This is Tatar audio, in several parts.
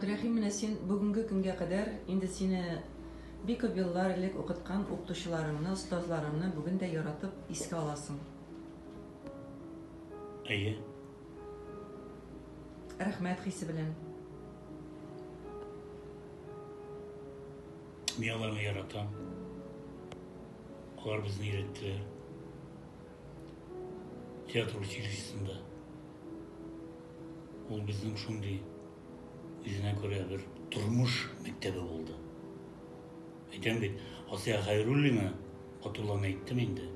Рәхим, менә син бүгенге көнгә кадәр, инде сине бик күп еллар элек укыткан укытучыларыңны, остазларыңны бүген дә яратып искә аласың. Әйе. Рәхмәт хисе белән. Мин аларны яратам. Алар безне өйрәттеләр. Театр училищесында. Ул безнең шундый Үзенә күрә бер тормыш мәктәбе булды. Әйтәм бит, Асия Хәйруллина, атулан әйттем инде.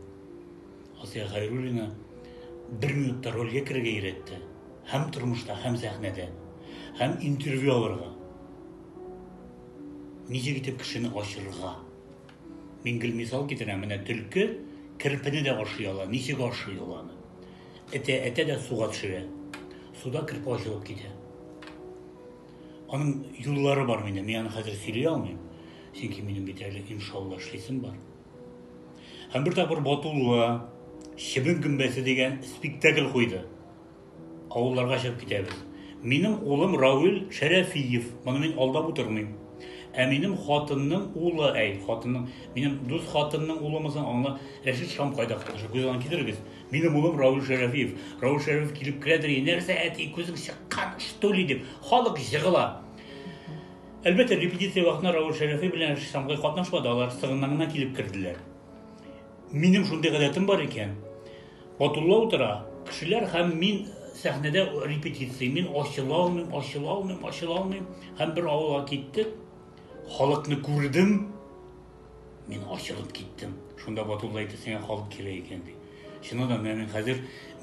Асия Хәйруллина бер минутта рольгә керергә өйрәтте. Һәм тормышта, һәм сәхнәдә. Һәм интервью алырга. Ничек итеп кешене ачырга. Мин гел мисал китерәм, менә төлке керпене дә ашый ала, ничек ашый ул аны. Әтә, әтә дә суга төшерә. Суда кереп ачылып китә. Аның юллары бар минем, мин аны хәзер сөйли алмыйм. Чөнки минем бит әле иншалла эшлисем бар. Һәм бер тапкыр Батулла Чебен гөмбәсе дигән спектакль куйды. Авылларга чыгып китәбез. Минем улым Рауль Шәрәфиев. Моны мин алдап утырмыйм. Ә минем хатынның улы, әй, хатынның, минем дус хатынның улымызын аңла, Рәшит Шамкайда катнаша. Күз аңын китерегез. Минем улым Рауль Шәрәфиев. Рауль Шәрәфиев килеп керә дә, нәрсә әти күзең чыккан, что ли дип, халык җыгыла. Әлбәттә, репетиция вакытында Рауль Шәрәфиев белән Шамгай катнашмады, алар сыгыннан гына килеп керделәр. Минем шундый гадәтем бар икән. Батулла утыра, кешеләр һәм мин сәхнәдә репетиция, мин ачыла алмыйм, ачыла алмыйм, ачыла алмыйм. Һәм бер авылга киттек, халыкны күрдем, Мин ачылып киттем. Шунда Батулла әйтте, сиңа халык кирәк икән, ди. Чыннан да, менә мин хәзер